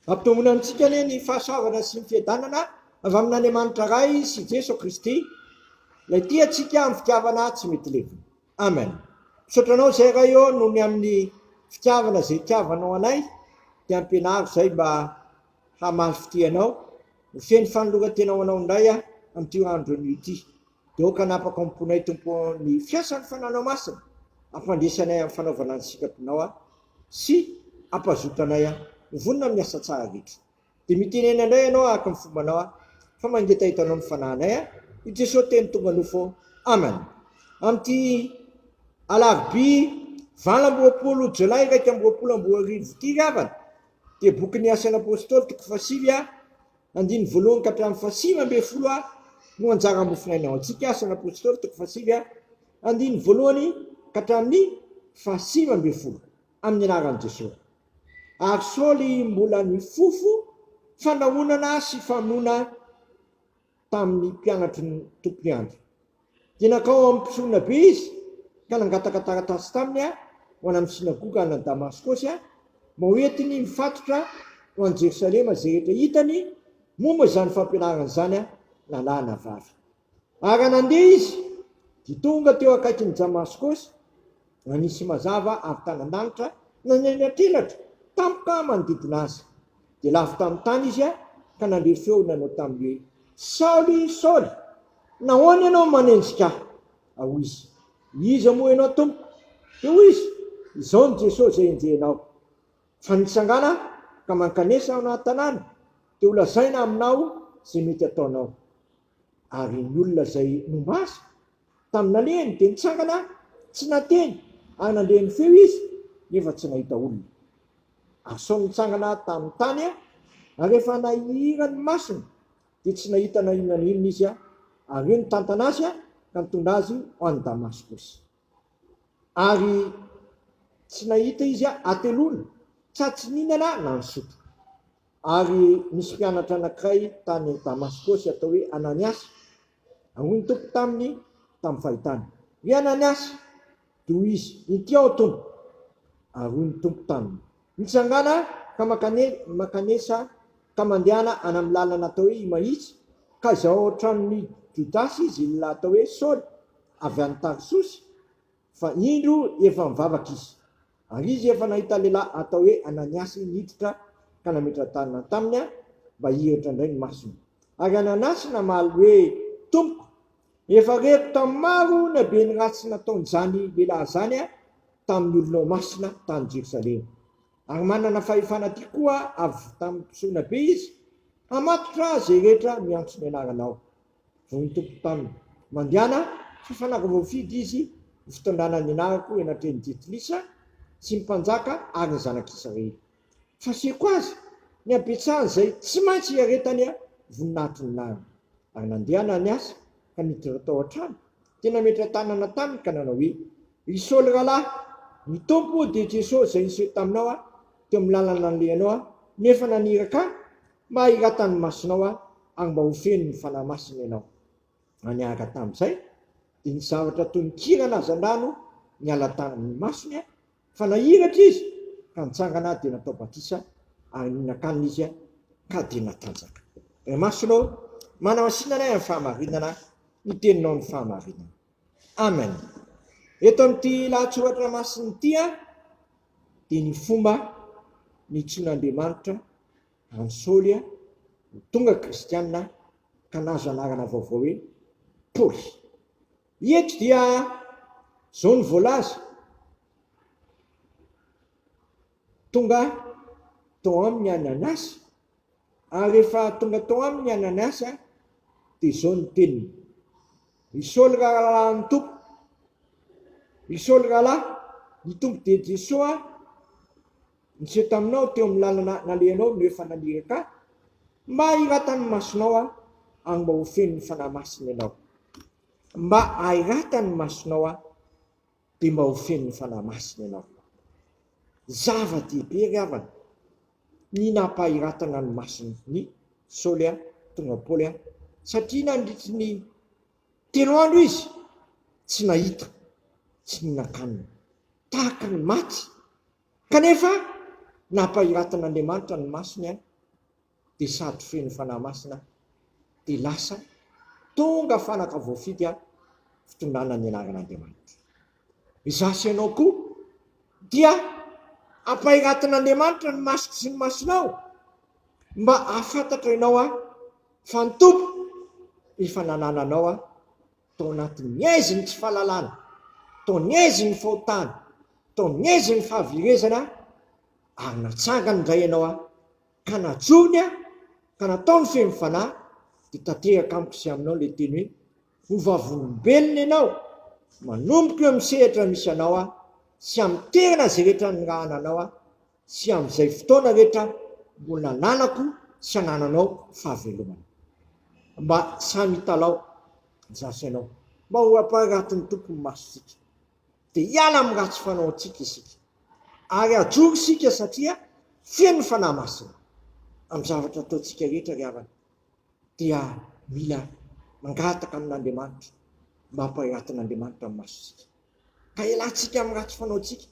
Ampitomboina amintsika anie ny fahasoavana sy ny fiadanana avy amin'Andriamanitra Ray sy Jeso Kristy, Ilay tia antsika amin'ny fitiavana tsy mety levona. Amen. Misaotra Anao izay Ray ô, noho ny amin'ny fitiavana izay itiavanao anay, dia ampianaro izay mba hamaly fitia Anao, ho feno fanoloran-tena ho Anao indray aho amin'ity andro anio ity. Dia aoka hanapaka ao am-ponay Tompo ny fiasan'ny Fanahinao Masina, hampandresy anay amin'ny fanaovana ny sikapinao aho. Sy ampazoto anay aho. Ho vonona amin'ny asa tsara rehetra. Dia mitenena indray ianao araka ny fombanao aho, fa mangetaheta anao ny fanahinay aho, i Jesoa Teny tonga nofo ô. Amen. Amin'ity alarobia valo amby roapolo jolay iraika amby roapolo amby roa arivo ity ry havana, dia bokin'ny Asan'ny Apôstôly toko fahasivy a, Andininy voalohany ka hatramin'ny fahasivy ambin'ny folo ary no anjara hamofinaina ao antsika, Asan' ny Apôstôly, toko fahasivy ary andininy voalohany ka hatramin'ny fahasivy ambin'ny folo, amin'ny anaran'i Jesoa. Ary Saoly mbola nifofo fanahonana sy famonoana tamin'ny mpianatry ny Tompo Andry, Dia nankao amin'ny mpisorona be izy ka nangataka taratasy taminy ho any amin'ny synagoga any Damaskosy, mba hoentiny mifatotra ho any Jerosalema izay rehetra hitany momba izany fampianarana izany na lahy na vavy. Ary raha nandeha izy, dia tonga teo akaikin'i Damaskosy, na nisy mazava avy tany an-danitra na ny any an-tselatra tampoka manodidina azy. Dia lavo tamin'ny tany izy ka nandre feo nanao taminy hoe, Saoly, Saoly, nahoana ianao manenjika ahy? Hoy izy, Iza moa ianao, Tompoko? Dia hoy izy, Izao ny Jesosy izay enjehinao, fa nitsangana ka mankanesa ao anaty tanàna, dia holazaina aminao izay mety hataonao. Ary ny olona izay nomba azy, tamin'ny nalehany, dia nitsangana tsy nateny, ary nandre ny feo izy, nefa tsy nahita olona. Ary Saoly nitsangana tamin'ny tany, ary rehefa nahihira ny masony, dia tsy nahita na inona na inona izy, ary eo nitantana azy ka nitondra azy ho any Damaskosy. Ary tsy nahita izy hateloana, tsa tsy nihinana na nisotro. Ary nisy mpianatra anankiray tany Damaskosy atao hoe Ananiasy. Ary hoy ny Tompo taminy tamin'ny fahitany, Ry Ananiasy! Dia hoy izy, Inty aho, Tompo. Ary hoy ny Tompo taminy, Mitsangàna ka mankanesa ka mandehana any amin'ny lalana atao hoe Imahitsy, ka izao ao an-tranon'i Jodasy izy atao hoe Saoly, avy any Tarsosy. Fa indro efa mivavaka izy, ary izy efa nahita lehilahy atao hoe Ananiasy niditra ka nametra-tanana taminy mba hihiratra indray ny masony. Ary Ananiasy namaly hoe, Tompoko, efa reko tamin'ny maro ny habeny ratsy nataon'izany lehilahy izany tamin'ny olonao masina tany Jerosalema. Ary manana fahefana aty koa avy tamin'ny mpisorona be izy, hamatotra izay rehetra miantso ny anaranao. vao ny tompon-tany. Mandehana hafanako vao fidy izy ho fitondrana ny nariko eny an-tren'i Jetilisa sy ny mpanjaka ary ny zanak'Israely. Fasihiko azy ny habetsahan'izay tsy maintsy hiaretany voninahitry ny nariny. Ary nandeha Ananiasy ka niditra tao an-trano, dia nametra tanana taminy ka nanao hoe, Ry Saoly rahalahy, ny Tompo dia Jesosy izay niseho taminao teo amin'ny lalana nalehanao nefa naniraka ahy Mahirata ny masonao aho ary mba ho feno ny Fanahy Masina ianao. Ary niaraka tamin'izay dia ny zavatra toy ny kiran'ny hazandrano niala tamin'ny masony fa nahiratra izy ka nitsangana dia natao batisa ary nihinan-kanina izy ka dia natanjaka. Imasonao, manamasinanay amin'ny fahamarinana ny teninao ny fahamarinana. Amen. Eto amin'ity lahatsoratra masina ity dia ny fomba nitsoin'Andriamanitra an'i Saoly ho tonga kristiana ka nahazo anarana vaovao hoe Paoly. Eto dia izao no voalaza, Tonga tao aminy any Anasy Ary rehefa tonga tao aminy Ananiasy dia izao no teniny, Ry Saoly rahalahin'ny Tompo, ry Saoly rahalahy, ny Tompo dia Jesoa niseho taminao teo amin'ny lalana nalehanao no efa naniraka ahy mba hiratan'ny masonao aho ary mba ho fenon'ny Fanahy Masina ianao, mba hahiratan'ny masonao aho. dia mba ho feno ny Fanahy Masina ianao. Zava-dehibe ry havana ny nampahiratana ny mason'i Saoly ahy, tonga Paoly ahy, satria nandritry ny telo andro izy tsy nahita, tsy nihinan-kanina, tahaka ny maty, kanefa nampahiratan'Andriamanitra ny masony ahy. dia sady feno Fanahy Masina dia lasa tonga fanaka voafidy fitondrana ny anaran'Andriamanitra. Izaho sy ianao koa dia ampairatin'Andriamanitra ny masoko sy ny masonao mba hahafantatra ianao aho fa ny Tompo efa nanana anao aho tao anatin'ny aizin'ny tsy fahalalana, tao ny aizin'ny fahotana, tao ny aizin'ny fahaverezana ary natsangany indray ianao aho ka najony aho ka nataony feno fanahy dia tanteraka amiko sy aminao ilay teny hoe ho vavolombelona ianao, manomboka eo amin'ny sehatra misy anao aho sy amin'ny toerana izay rehetra nirahana anao aho sy amin'izay fotoana rehetra mbola nananako sy anananao fahavelomana. Mba sahy mitalaho, zary sainao mba ho ampaharatin'ny Tompo ny masontsika. dia hiala amin'ny ratsy fanaontsika isika ary hajoro isika satria feno ny Fanahy Masina. Amin'ny zavatra ataontsika rehetra ry havana dia mila mangataka amin'Andriamanitra mba hampahiratin'Andriamanitra ny masontsika ka hialantsika amin'ny ratsy fanaontsika,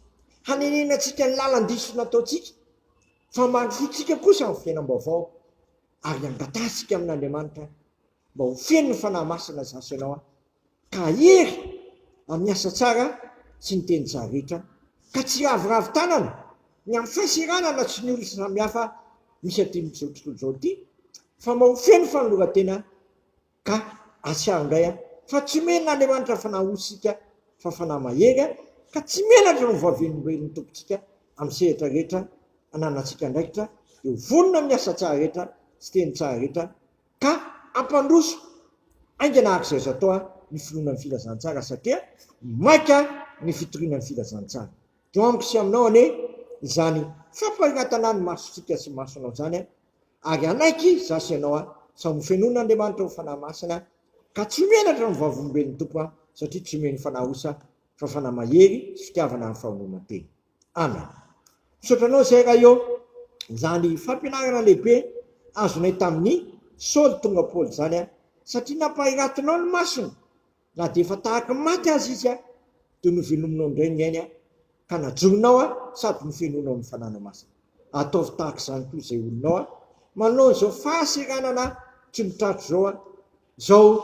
hanenenantsika ny lalan-diso nataontsika fa mandrosoantsika kosa amin'ny fiainam-baovao ary hangatahantsika amin'Andriamanitra mba ho feno ny Fanahy Masina izaho sy ianao ka hahery amin'ny asa tsara sy ny teny tsara rehetra, ka tsy hiraviravy tanana ny amin'ny fahasiranana sy ny olona samihafa misy aty amin'izao tontolo izao ity, fa mba ho feno fanoloran-tena ka hahatsiaro indray aho fa tsy omena an'Andriamanitra fanahy ho isika fa fanahy mahery ka tsy menatra ny hovavian'olombelon'ny Tompontsika amin'ny sehatra rehetra ananantsika andraikitra dia ho vonona amin'ny asa tsara rehetra sy teny tsara rehetra Ka hampandroso haingana araka izay azo atao ny finoana ny filazantsara satria maika ny fitoriana ny filazantsara. Teo amiko sy aminao anie izany fampariratana ny masontsika sy masonao izany ary hanaiky za sy ianao sao ho fenoin'Andriamanitra ho Fanahy Masina ka tsy ho henatra ny vavolombelon'ny Tompo satria tsy omen'ny fanahy osa fa fanahy mahery sy fitiavana ary fahaononantena. Ana. Misaotra anao Zay Raio izany fampianarana lehibe azonay tamin'ny Saoly tonga Paoly izany an! Satria nampahiratinao ny masony na dia efa tahaka ny maty aza izy an! Dia novelominao indray ny ainy an! Ka najorinao an! Sady nofenoinao ny Fananao Masina. Ataovy tahaka izany koa izay olonao an! Manoloana izao fahaseranana tsy mitratra izao an! Zao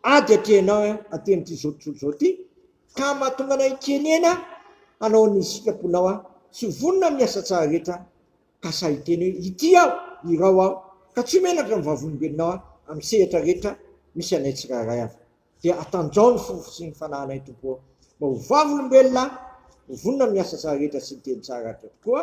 ady atrehinao eh atenity zao tontolo zao ty ka mahatonga anay kenena hanao ny sitraponao ah tsy vonona amin'ny asa tsara rehetra ka sahy hiteny hoe ity aho irao aho ka tsy menatra ny vavolombelonao ah amin'ny sehatra rehetra misy anay tsirairay avy dia atanjaho ny fofo sy ny fanahinay tompo oh mba ho vavolombelona ho vonona amin'ny asa tsara rehetra sy ny teny tsara rahateo tokoa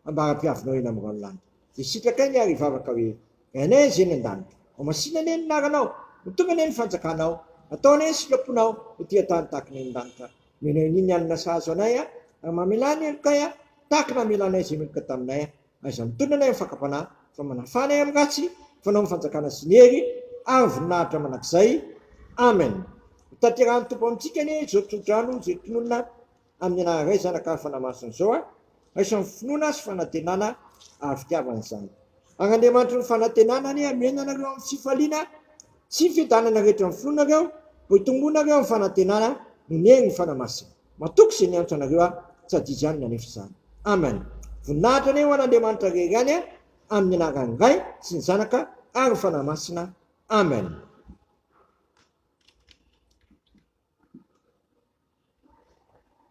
ambara-piavinao eny amin'ny raolandy Dia sitrakay ny ary hivavaka hoe, Rainay Azz eny an-danitra, ao masina anie ny anaranao, mitombo anie ny fanjakanao, atao anie ny sitraponao ho tia tany tahaka ny any an-danitra, omena anie ny hanina sahaza anay a, ary mamelà ny helokay a, tahaka ny namelanay izay meloka taminay a, aiza mitondra anay amin'ny fakam-panahy, fa manafà anay amin'ny ratsy, fanao ny fanjakana sy ny hery ary ny voninahitra mandrakizay. Amen. Hotanterahan'ny Tompo amintsika anie izao tsodrano izay tononina. amin'ny anaharay zanaka hafa namasina izao aho, raisan'ny finoana sy fanantenana ary fitiavana izany. Ary Andriamanitry ny fanantenana anie hameno anareo amin'ny fifaliana sy ny fiadanana rehetra amin'ny finoanareo, mba hitombonareo amin'ny fanantenana noho ny herin'ny Fanahy Masina. Matoky izay niantso anareo aho, tsy hadio izany ny hanefa izany. Amen. Voninahitra anie ho an'Andriamanitra Ray ihany an, amin'ny anaran'ny Ray sy ny Zanaka ary ny Fanahy Masina. Amen.